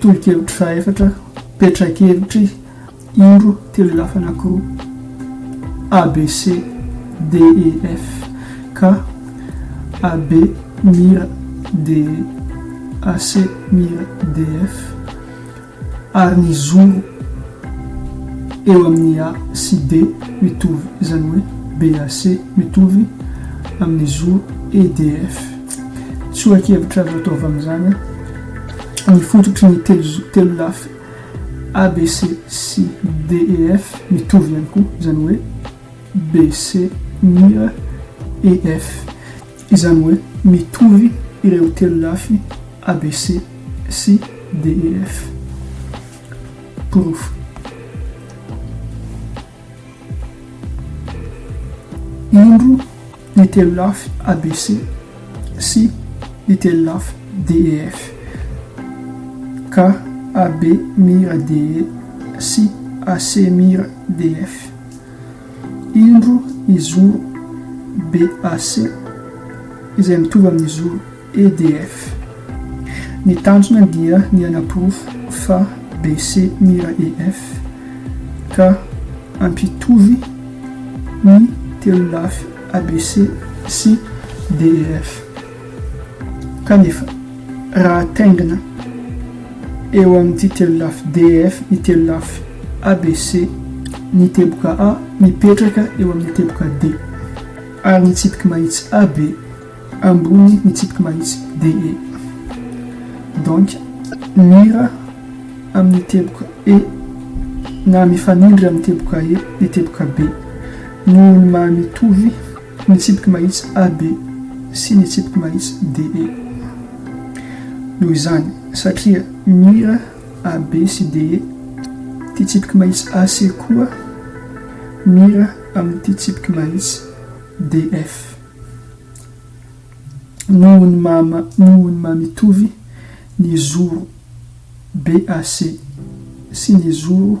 Tolo-kevitry fahefatra, Petra-kevitry indro telo lafa anankiroa, ABC, DEF, ka AB mira DE, AC mira DF. ary ny zoro eo amin'ny A sy D mitovy, izany hoe BAC mitovy amin'ny zoro EDF. Tsoa-kevitra azo atao avy amin'izany, ny fototry ny telolafy ABC sy DEF mitovy ihany koa, izany hoe BC mir EF. Izany hoe mitovy ireo telolafy ABC sy DEF. Porofo. Indro ny telolafy ABC sy ny telolafy DEF. Ka AB mira DE sy AC mira DF. Indro ny zoro BAC, izay mitovy amin'ny zoro EDF. Ny tanjona dia ny hanaporofo fa BC mira EF ka hampitovy ny telolafy ABC sy DEF. Kanefa, raha ataingina eo amin'ity telolafy DEF ny telolafy ABC, ny teboka A mipetraka eo amin'ny teboka D, ary ny tsipiky mahitsy AB ambony ny tsipiky mahitsy DE. Donc, mira amin'ny teboka E na mifanindry amin'ny teboka E ny teboka B, noho ny maha-mitovy. Ny tsipiky mahitsy AB sy ny tsipiky mahitsy DE. Noho izany, satria mira AB sy DE ity tsipiky mahitsy AC koa mira amin'ity tsipiky mahitsy DF. Noho ny maha noho ny maha mitovy ny zoro BAC sy ny zoro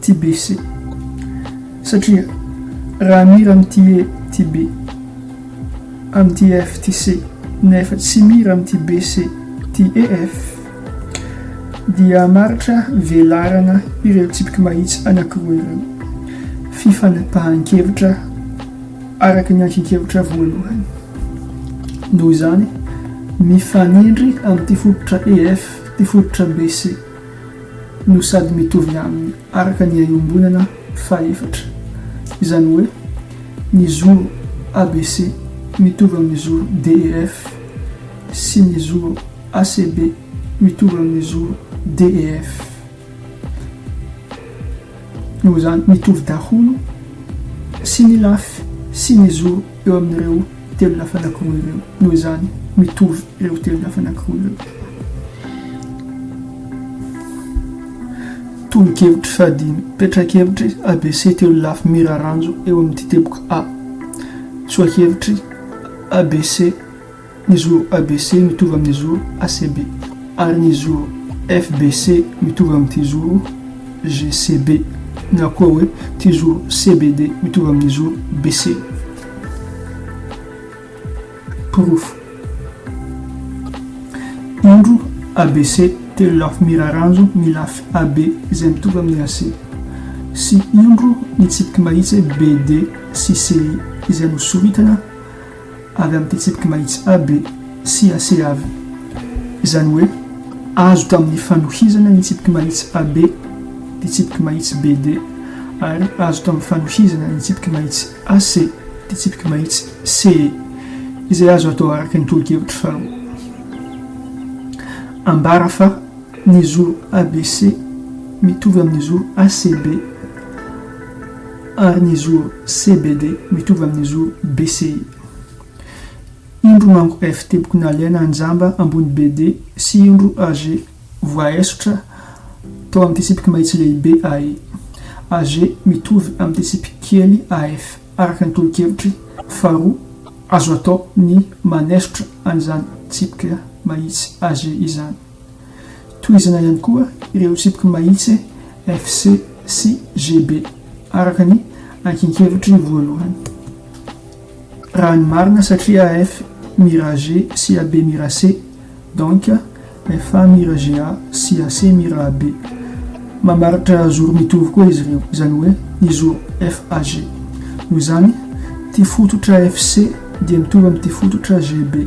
TBC. Satria raha mira amin'ity he, TB, amin'ity ef, TC, nefa tsy mira amin'ity BC, TEF, dia hamaritra velarana ireo tsipiky mahitsy anankiroa ireo. Fifanapahan-kevitra araka ny ankin-kevitra voalohany. Noho izany, mifanindry amin'ity fototra EF ity fototra BC. no sady mitovy aminy araka ny iombonana fahefatra, izany hoe ny zoro ABC mitovy amin'ny zoro DEF sy ny zoro ACB mitovy amin'ny zoro DEF. Noho izany, mitovy daholo sy ny lafy sy ny zo eo amin'ireo telo lafy anankiroa ireo. Noho izany, mitovy ireo telo lafy anankiroa ireo. Tolo-kevitry fahadimy, Petra-kevitry ABC telo lafy miraranjo eo amin'ity teboka A. Tsoa-kevitry ABC. Ny zo ABC mitovy amin'ny zo ACB, ary ny zo FBC mitovy amin'ity zo GCB, na koa hoe ity zo CBD mitovy amin'ny zo BC. Porofo. Indro ABC telo lafy miraranjo ny lafy AB izay mitovy amin'ny AC, sy indro ny tsipiky mahitsy BD sy CI izay nosoritana, avy amin'ny fitsipiky mahitsy AB sy AC avy, izany hoe azo tamin'ny fanohizana ny tsipiky mahitsy AB, fitsipiky mahitsy BD, ary azo tamin'ny fanohizana ny tsipiky mahitsy AC, fitsipiky mahitsy CE, izay azo atao araka ny tolo-kevitry faharoa. Ambara fa ny zoro ABC mitovy amin'ny zoro ACB. ary ny zoro CBD mitovy amin'ny zoro BCI. Indro manko F teboky nalaina anjamba ambony BD sy indro AG voaesotra tao amin'ny tsitsipiky mahitsy lehibe AE. AG mitovy amin'ny tsitsipiky kely AF araka ny tolo-kevitry faharoa azo atao ny manesotra an'izany tsipika mahitsy AG izany. Tohizana ihany koa ireo tsipiky mahitsy FC sy GB, araka ny ankin-kevitry voalohany. Raha ny marina satria AF Mira G sy AB Mira C, donc FA Mira GA sy AC Mira AB. Mamaritra zoro mitovy koa izy ireo, izany hoe ny zoro FAG. Noho izany, ity fototra FC dia mitovy amin'ity fototra GB.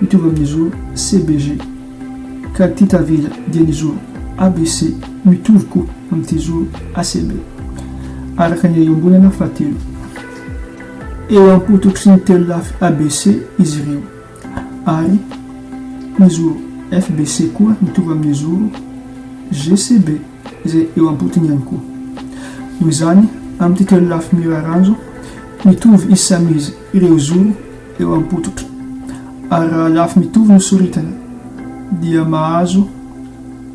mitovy amin'ny zoro CBG, ka ity tavela dia ny zoro ABC mitovy koa amin'ity zoro ACB, araka ny iombonana fahatelo. Eo am-pototry ny telo lafy ABC izy ireo, ary ny zoro FBC koa mitovy amin'ny zoro GCB izay eo am-potony ihany koa. Noho izany, amin'ity telo lafy miraranjo, mitovy izy samy izy ireo zoro, eo am-pototra, ary raha lafy mitovy no soritana, dia mahazo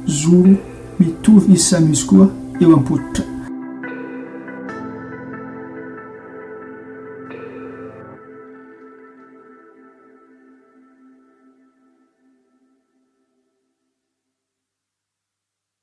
zoro mitovy izy samy izy koa eo am-pototra.